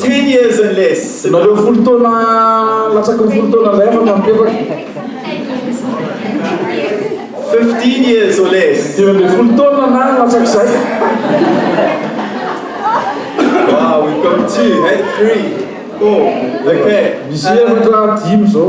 Ten years and less. Nareo folo taona latsaky ny folo taona indray afaka mipetaka. Fifteen years or less. Dimy ambin'ny folo taona na latsak'izay. Wow, we've got two, hey, three, four, okay. Misy efatra, dimy zao.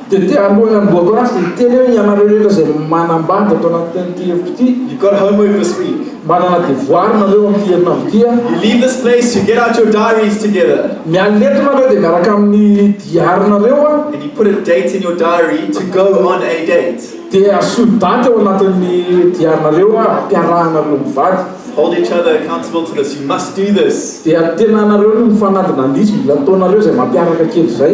Dia te hanohy ny amboako ratsy dia hiteny aho, ianareo rehetra izay manambady ato anatin'ity hevitro ity. You gotta homework this week. Manana devoara nareo amin'ity herinandro ity a. You leave this place, you get out your diaries together. Miala eto nareo dia miaraka amin'ny diary nareo a. And you put a date in your diary to go on a date. Dia asio daty ao anatin'ny diary nareo a, ampiarahanareo mivady. Hold each other accountable to this, you must do this. Dia tenanareo no mifanadina andiso, mila ataonareo izay mampiaraka kely izay.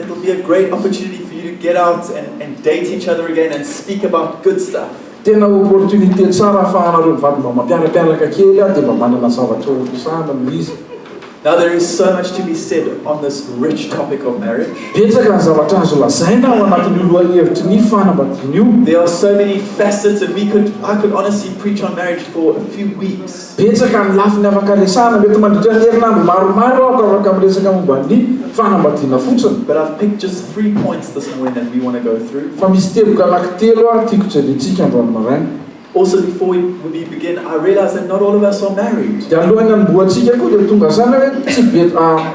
It'll be a great opportunity for you to get out and and date each other again and speak about good stuff. Tena opportunité tsara afahanareo mivady mba mampiarapiaraka kely ary dia mba manana zavatra ho resahana noho izy. Now there is so much to be said on this rich topic of marriage. Betsaka ny zavatra azo lazaina ao anatin'io lohahevitry ny fanambadiana io. There are so many facets and we could I could honestly preach on marriage for a few weeks. Betsaka ny lafiny afaka resahana. Mety mandritra ny herinandro maromaro aho ka afaka miresaka momba ny fanambadiana fotsiny. But I've picked just three points this morning that we want to go through. Fa misy teboka anankitelo aho tiako jerentsika androany maraina. Also before we we begin, I realize that not all of us are married. Dia alohan'ny hanombohantsika koa dia tonga saina hoe tsy be ah.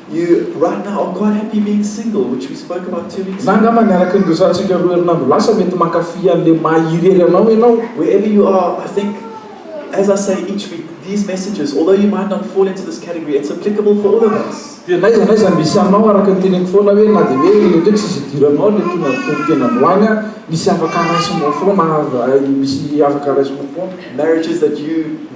Na angamba ny araka ny resahantsika roa herinandro lasa mety mankafy an'ilay maha irery anao ianao. Dia n'aiza n'aiza misy anao, araka ny teneniko foana hoe na dia hoe iny indray tsy izy idiranao ilay tony ampitory tena androany ary misy afaka raisinao foana ary misy afaka raisinao foana.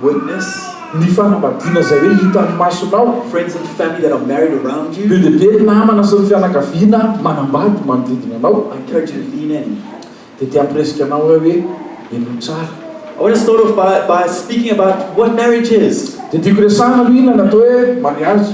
Witness, Ny fanambadiana izay hoe hitan'ny masonao. Friends and family that are married around you. Be dia be ny namana sy ny fianakaviana manambady manodidina anao. I encourage you to lean in. Dia te hampirisika anao aho hoe henoy tsara. I want to start off by by speaking about what marriage is. Dia tiako resahina aloha inona no atao hoe mariazy.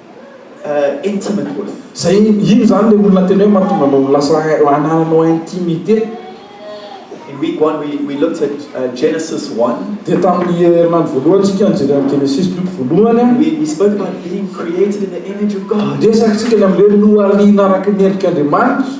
intimate with. Zay ino zany le olona tena hoe mahatonga anao ho lasa anananao intimité? In week one we we looked at Genesis one. Dia tamin'ny herinandro voalohany isika nijery an'i Genesisy boky voalohany a. We we spoke about being created in the image of God. Niresaka isika ny amin'ilay hoe nohariana araka ny endrik'Andriamanitra.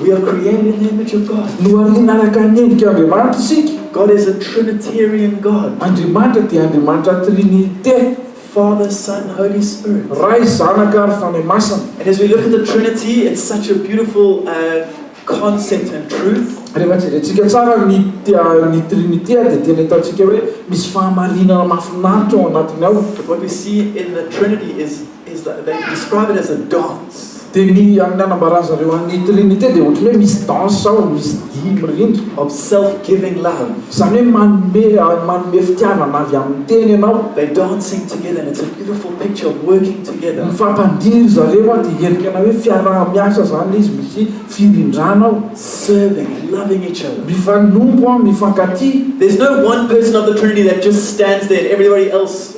We are created in the image of God. Nohariana araka ny endrik' Andriamanitra isika. God is a Trinitarian God. Andriamanitra dia Andriamanitra Trinite. Father, Son, Holy Spirit. Ray, Zanaka ary Fanahy Masina. And as we look at the Trinity, it's such a beautiful concept and truth. Rehefa jerentsika tsara ny ny Trinite dia tena hitantsika hoe misy fahamarinana mahafinaritra ao anatiny ao. What we see in the Trinity is is that they describe it as a dance. Dia ny amin'ny anambaran'izy ireo an'ny Trinite dia ohatran'ny hoe misy danse ao, misy dihy mirindra. Of self-giving love. Izany hoe manome manome fitiavana avy amin'ny tena ianao. They dancing together and it's a beautiful picture of working together. Mifampandihy ry zareo an, dia endrika ana hoe fiaraha-miasa izany ilay izy, misy firindrana ao. Serving, loving each other. Mifanompo an, mifankatia. There's no one person of the Trinity that just stands there and everybody else.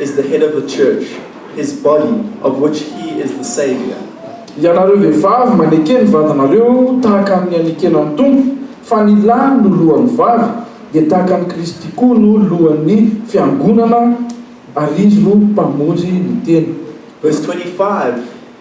is the head of the church, his body of which he is the saviour. Ianareo vehivavy maneke ny vadinareo tahaka ny anekena ny Tompo, fa ny lahy no lohan'ny vady, dia tahaka an'i Kristy koa no lohan'ny fiangonana, ary izy no mpamonjy ny tena. Verse 25,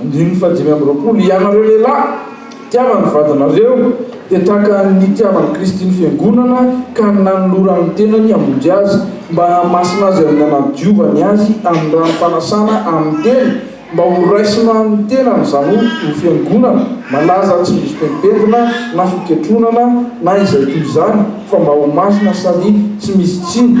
Andininy fahadimy amby roapolo, Hianareo lehilahy, tiava ny vadinareo, dia tahaka ny nitiavan'i Kristy ny Fiangonana ka nanolorany ny tenany hamonjy azy, mba hahamasina azy amin'ny hanadiovany azy amin'ny rano fanasana amin'ny tena, mba ho raisina amin'ny tenany, izany hoe ho fiangonana malaza tsy misy pentimpentina na fiketronana na izay toy izany, fa mba ho masina sady tsy misy tsiny.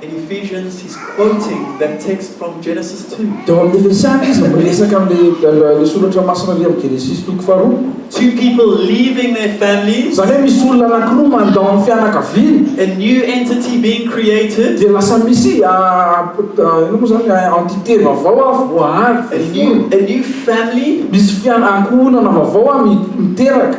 In Ephesians he's quoting that text from Genesis too. Teo amin'ny Efesiana izy miresaka amin'ilay soratra masina avy amin'ny Genesisy toko faharoa. Two people leaving their families. Izany hoe misy olona anankiroa mandao ny fianakaviany. A new entity being created. Dia lasa misy inona moa izany entité vaovao voahary, voaforona. A new family. Misy ankohonana vaovao miteraka.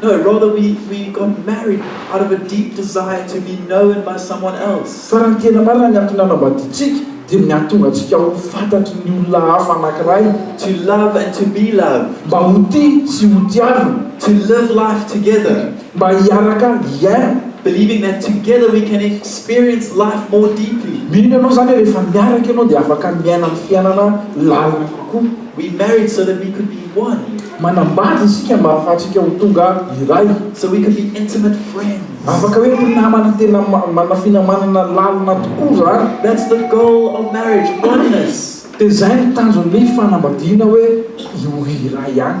No, rather we we got married out of a deep desire to be known by someone else. Fa raha ny tena marina ny antony nanambadiantsika dia ny hahatonga antsika ho fantatry ny olona hafa anankiray. To love and to be loved. Mba ho tia sy ho tiavina. To live life together. Mba hiaraka hiaina. Believing that together we can experience life more deeply. Mino ianao izany rehefa miaraka ianao dia afaka miaina ny fiainana lalina kokoa. We married so that we could be one. Manambady isika mba hahafahantsika ho tonga iray. So we could be intimate friends. Afaka hoe mpinamana tena manana finamanana lalina tokoa izany. That's the goal of marriage, oneness. Dia izay no tanjon'ny fanambadiana hoe io iray ihany.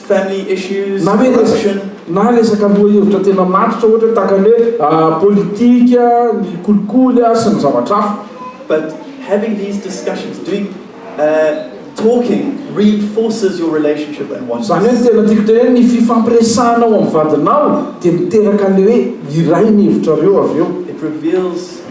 family issues, corruption. Na resaka lohahevitra tena matotra ohatra tahaka ny hoe politika, ny kolikoly ary sy ny zavatra hafa. But having these discussions, doing, talking reinforces your relationship and oneness. Izany hoe ny tena tiako tenenina, ny fifampiresahana ao amin'ny vadinao dia miteraka an'ilay hoe iray ny hevitrareo avy eo. It reveals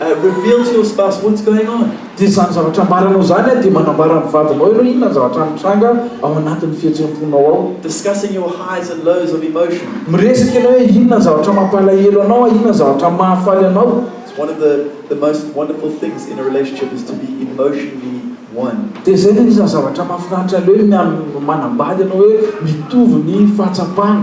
I will build you stas what's going on? Dia izany zavatra ambaranao izany dia manambara amin'ny vadinao ianao inona ny zavatra mitranga ao anatin'ny fihetseham-ponao ao. Discussing your highs and lows of emotion. Miresaka ianao hoe inona ny zavatra mampalahelo anao, inona ny zavatra mahafaly anao. It's one of the the most wonderful things in a relationship is to be emotionally one. Dia izay no anisan'ny zavatra mahafinaritra indrindra ny amin'ny manambady ianao hoe mitovy ny fahatsapana.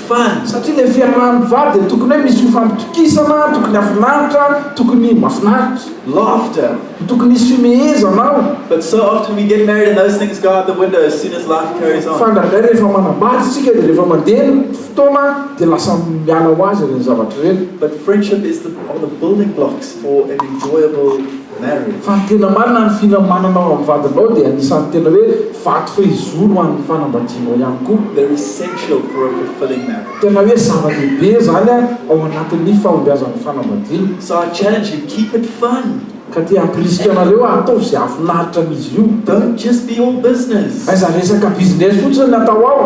Fany. Satria le fiarahan'ny vady dia tokony hoe misy fifampitokisana, tokony hafinaritra, tokony mafinaritra, laughter, tokony hisy fimehezana ao. But so often we get married and those things go out the window as soon as life carries on. Fa indraindray rehefa manambady isika dia rehefa mandeha ny fotoana dia lasa miala ho azy ireny zavatra ireny. But friendship is the are the building blocks for an enjoyable. Mary. Fa ny tena marina, ny fira mananao amin'ny vadinao dia anisan'ny tena hoe vato fehizoro ho an'ny fanambadianao ihany koa. They're essential for a fulfilling marriage. Tena hoe zava-dehibe izany ao anatin'ny fahombiazan'ny fanambadiana. So I challenge you, keep it fun. Ka te hampirisika anareo aho, ataovy izay hahafinaritra amin'izy io. Don't just be all business. Aiza resaka business fotsiny ny atao ao.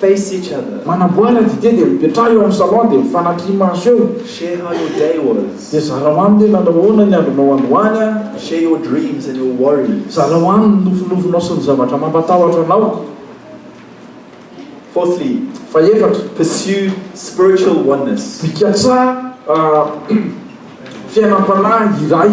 face each other. Manamboara dite dia mipetraha eo amin'ny salon dia mifanatri maso eo. Share how your day was. Dia zarao aminy hoe nanao ahoana ny andronao androany an. Share your dreams and your worries. Zarao aminy ny nofinofinao sy ny zavatra mampatahotra anao. Fourthly, Fahefatra, pursue spiritual oneness. Mikatsaha fiainam-panahy iray.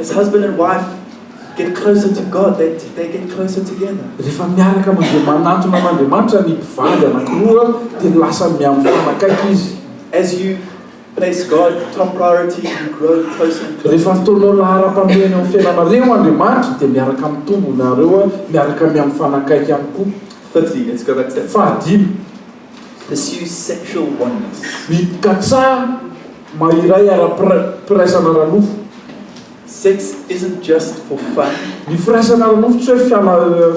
As husband and wife get closer to God, they, they get closer together. Rehefa miaraka mandeha manantona an'Andriamanitra ny mpivady anankiroa dia lasa miha-mifanakaiky izy. As you place God top priority, you grow closer and closer. Rehefa ataonao laharam-pahamehana eo amin'ny fiainanareo Andriamanitra dia miaraka mitombo nareo miaraka miha-mifanakaiky ihany koa. Fahadimy. pursues sexual oneness. Ny katsaha mahiray ara-piraisana ara-nofo. Sex isn't just for fun. Ny firaisana ara-nofo tsy hoe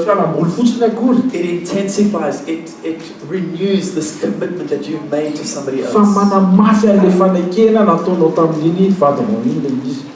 fialam-boly fotsiny akory. It intensifies, it it renews this commitment that you've made to somebody else. Fa manamafy an'ilay fanekena nataonao tamin'iny vadinao iny ilay izy.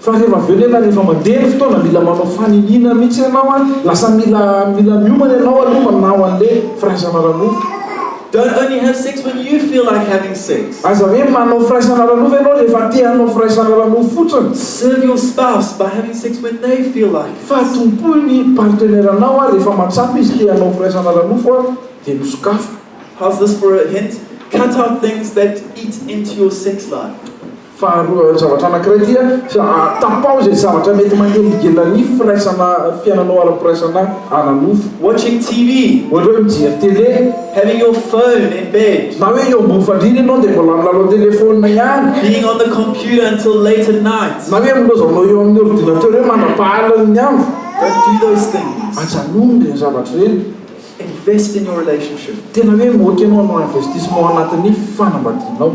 Fa rehefa avy eo nefa rehefa mandeha ny fotoana mila manao faniniana mihitsy ianao an, lasa mila mila miomana ianao aloha manao an'le firaisana ara-nofo. Don't only have sex when you feel like having sex. Aza hoe manao firaisana ara-nofo ianao rehefa te hanao firaisana ara-nofo fotsiny. Serve your spouse by having sex when they feel like it. Fa tompoy ny partenaire-nao an, rehefa mahatsapa izy te hanao firaisana ara-nofo an, dia misokafo. How's this for a hint? Cut out things that eat into your sex life. Faharoa, zavatra anankiray dia, tapaho izay zavatra mety manelingelina ny firaisana, fiainanao ara-piraisana ara-nofo. Watching TV, ohatra hoe mijery tele. Having your phone in bed. Na hoe eo ambony fandriana ianao dia mbola milalao telefaonina ihany. Being on the computer until late at night. Na hoe milazanao eo amin'ny ordinateur hoe mandra-pahalan'ny andro. Don't do those things. Ajanony ireny zavatra ireny. Invest in your relationship. Tena hoe moka ianao hanao investissement anatin'ny fanambadianao.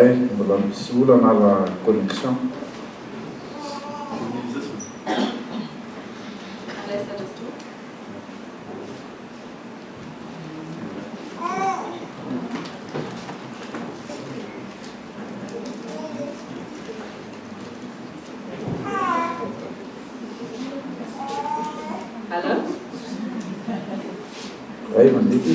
Eh mbola misy olana la connexion. Allô. Zay mandidy.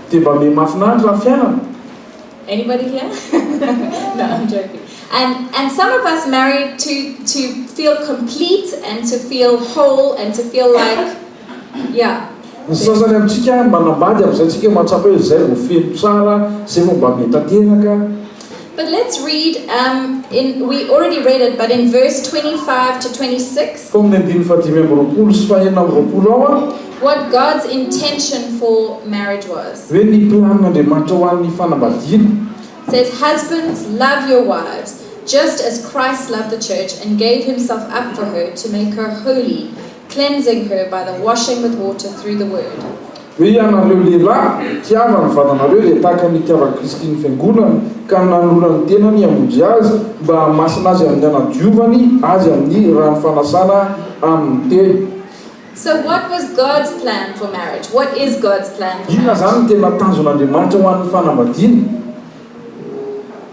Dia mba miha mahafinaritra ny fiainana. Anybody here? No, I'm joking. And, and some of us marry to, to feel complete and to feel whole and to feel like, yeah. Ny sasany amintsika manambady amin'izay tsika mahatsapa hoe izay vao feno tsara, izay vao mba miha tanteraka. But let's read um in we already read it but in verse twenty five to twenty six. Tao amin'ny andininy fahadimy amby roapolo sy fahenina amby roapolo ao an. What God's intention for marriage was. Hoe ny planin'Andriamanitra ho an'ny fanambadiana. Says husbands love your wives just as Christ loved the church and gave himself up for her to make her holy. Cleansing her by the washing with water through the word. Ry ianareo lehilahy, tiava ny vavanareo izay tahaka ny itiavan'i Kristy ny Fiangonany, ka nanora ny tenany hamonjy azy, mba hahamasina azy amin'ny hanadiovany azy amin'ny rano fanasana amin'ny teny. So what was God's plan for marriage? What is God's plan for marriage? Inona izany no tena tanjon'Andriamanitra ho an'ny fanambadiana?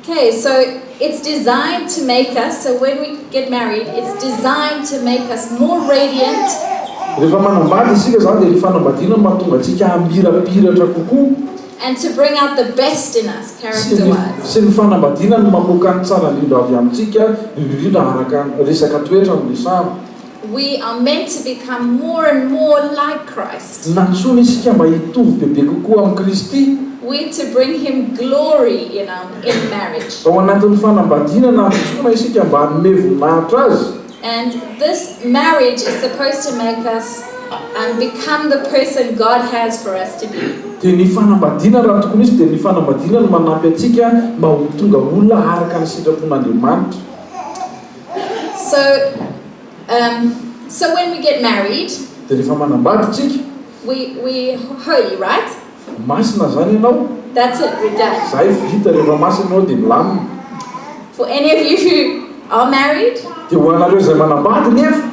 Ok so it's designed to make us so when we get married it's designed to make us more radiant, Rehefa manambady isika izany dia ny fanambadiana no mahatonga antsika hamirapiratra kokoa, and to bring out the best in us sy ny character-wise. sy ny fanambadiana no mamoaka ny tsara indrindra avy amintsika, indrindra indrindra araka ny resaka toetra no resahana. We are meant to become more and more like Christ. Nantsoina isika mba hitovy bebe kokoa amin'i Kristy. We to bring him glory in our in marriage. Ao anatin'ny fanambadiana nantsoina isika mba hanome voninahitra azy. And this marriage is supposed to make us um become the person God has for us to be. Dia ny fanambadiana raha tokony hisy dia ny fanambadiana no manampy antsika mba ho tonga olona araka ny sitrapon'Andriamanitra. So um so when we get married. Dia rehefa manambady tsika. We we holy right? Masina zany ianao. That's it we're done. Zay vita rehefa masina ianao dia milamina. For any of you who are married. Dia ho anareo izay manambady nefa.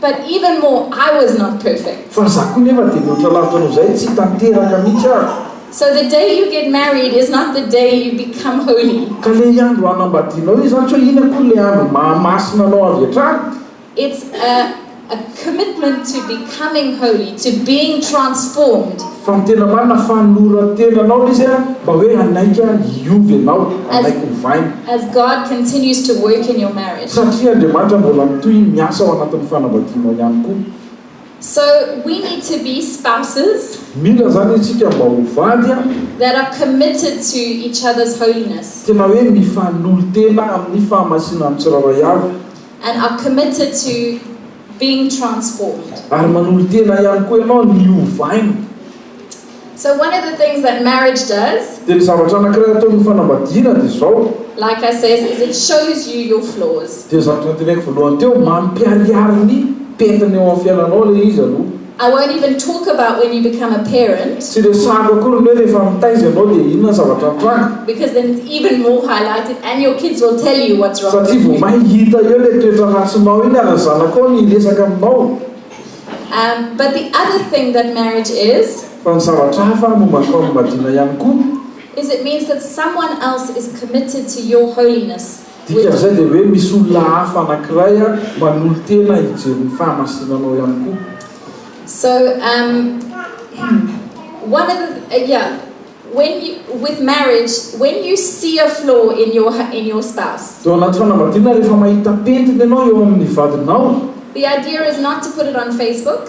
But even more I was not perfect. Fa izaho koa nefa dia mihoatra lavitra noho izay, tsy tanteraka mihitsy aho. So the day you get married is not the day you become holy. Ka ilay andro hanambadianao io izany tsy hoe iny akory ilay andro mahamasina anao avy hatrany. It's a a commitment to becoming holy, to being transformed. Fa ny tena marina fanolorantena anao le izy mba hoe hanaiky aho hiova ianao, hanaiky ho vaina. As God continues to work in your marriage. Satria Andriamanitra mbola mitohy miasa ao anatin'ny fanambadianao ihany koa. So we need to be spouses. Mila izany isika mba ho vady a. That are committed to each other's holiness. Tena hoe mifanolo-tena amin'ny fahamasinan'ny tsirairay avy. And are committed to. being transformed. Ary manolo-tena ihany koa ianao ny ovaina. So one of the things that marriage does. Dia ny zavatra anankiray ataon'ny fanambadiana dia izao. Like I says is it shows you your flaws. Dia ny zavatra noteneniko voalohany teo, mampiharihary ny pentina eo amin'ny fiainanao ilay izy aloha. I won't even talk about when you become a parent. Tsy resahako akory ny hoe rehefa mitaiza ianao dia inona ny zavatra mitranga. Because then it's even more highlighted and your kids will tell you what's wrong with you. Satria vao may hita eo ilay toetra ratsinao iny ary ny zanakao no hiresaka aminao. Um, but the other thing that marriage is. Fa ny zavatra hafa no mampifamadiana ihany koa. Is it means that someone else is committed to your holiness. Dikan'izay dia hoe misy olona hafa anankiray manolo-tena hijery ny fahamasinanao ihany koa. So um one of the yeah when you with marriage when you see a flaw in your in your spouse. Dia ao anaty fanambadiana rehefa mahita pentina ianao eo amin'ny vadinao. The idea is not to put it on Facebook.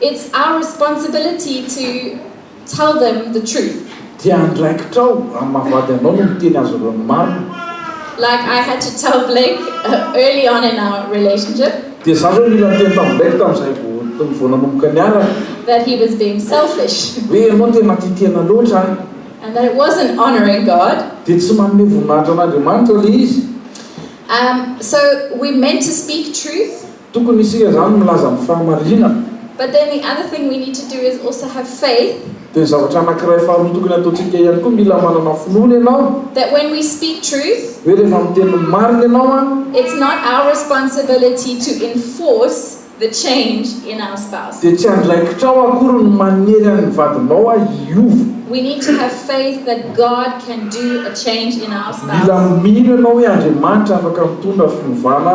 It's our responsibility to tell them the truth. Dia andraikitrao amin'ny maha vady anao ny miteny azy ireo ny marina. Like I had to tell Blake early on in our relationship. Dia za ve mila niteny tamin'i Blake tamin'izay vao vao nanomboka niaraka. That he was being selfish. Hoe ianao tena tia tena loatra. And that it wasn't honouring God. Dia tsy manome voninahitra an'Andriamanitra ilay izy. Um, so we meant to speak truth. Tokony isika izany milaza ny fahamarinana. But then the other thing we need to do is also have faith. Dia ny zavatra anankiray faharoa tokony hataontsika ihany koa mila manana finoana ianao. That when we speak truth. Hoe rehefa miteny ny marina ianao an. It's not our responsibility to enforce the change in our spouse. Dia tsy andraikitrao akory ny manery an' ny vadinao an hiova. We need to have faith that God can do a change in our spouse. Mila mino ianao hoe Andriamanitra afaka mitondra fiovana.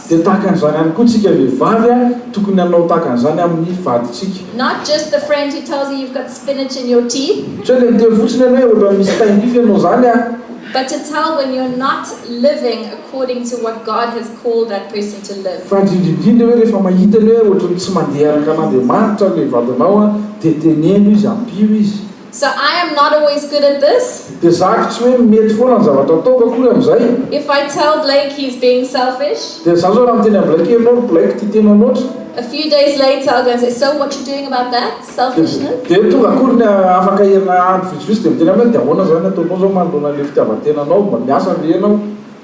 Dia tahaka an'izany ihany koa tsika vehivavy a, tokony hanao tahaka an'izany amin'ny vadintsika. Not just the friend who tells you you've got spinach in your teeth. Tsy hoe le miteny fotsiny ianao hoe ohatrany misy taim-pify ianao izany a. But to tell when you're not living according to what God has called that person to live. Fa indrindra indrindra hoe rehefa mahita ianao hoe ohatrany tsy mandeha araka an'Andriamanitra le vadinao a, dia teneno izy, ampio izy. So I am not always good at this? Dia zako tsy hoe mety foana ny zavatra ataoko akory amin'izay? If I tell Blake he's being selfish? Dia zany izao raha miteny an'i Blake ianao ry Blake tia tena loatra? A few days later I'll go and say, so what you doing about that? Selfishness? Dia tonga akory ny afaka herinandro vitsivitsy dia miteny aminy aho, dia ahoana izany ataonao izao manoloana an'ilay fitiavan-tenanao? Mba miasa ve ianao?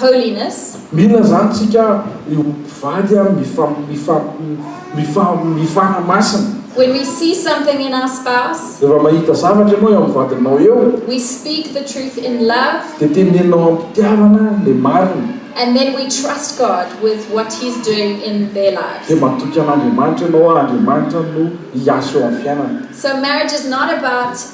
holiness. Mila zany tsika aby io mpivady a mifa mifa mifa mifana masina. When we see something in our spouse. Rehefa mahita zavatra ianao eo amin'ny vadinao eo. We speak the truth in love. Dia teneninao am-pitiavana le marina. And then we trust God with what he is doing in their lives. Dia matoky an'Andriamanitra ianao a Andriamanitra no hiasa eo amin'ny fiainana. So marriage is not about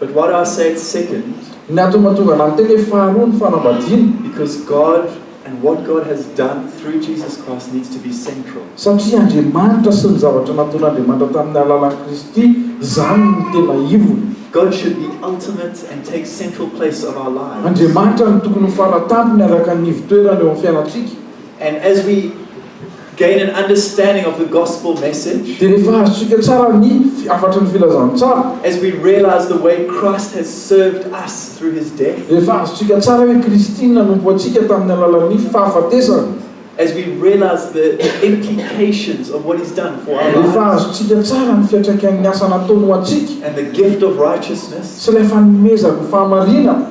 But what I said second. Ny hatomatovana ny teny hoe faharoa ny fanambadiana. Because God and what God has done through Jesus Christ needs to be central. Satria Andriamanitra sy ny zavatra nataon'Andriamanitra tamin'ny alalan'i Kristy izany no tena ivony. God should be ultimate and take central place of our lives. Andriamanitra no tokony ho fara tampony araka ny ivo-toerany eo amin'ny fiainantsika. And as we gain an understanding of the gospel message. Dia rehefa azontsika tsara ny hafatry ny filazantsara. As we realize the way Christ has served us through His death. Rehefa azontsika tsara hoe Kristy no nanompo antsika tamin'ny alalan'ny fahafatesany. As we realize the implications of what He's done for our lives. Rehefa azontsika tsara ny fiantraikan'ny asa nataony ho antsika. And the gift of righteousness. Sy ilay fanomezany ny fahamarinana.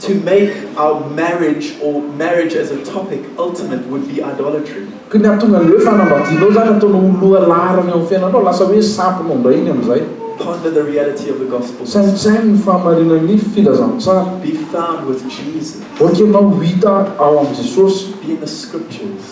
To make our marriage or marriage as a topic ultimate would be idolatry. Ka ny hahatonga an'ilay hoe fanambadianao izany ataonao ho loha laharana eo amin'ny fiainanao, lasa hoe sampinao indray iny amin'izay. Ponder the reality of the gospel. Saintsaino ny fahamarinan'ny filazantsara. Be found with Jesus. Voaky ianao ho hita ao amin'i Jesosy. Be in the scriptures.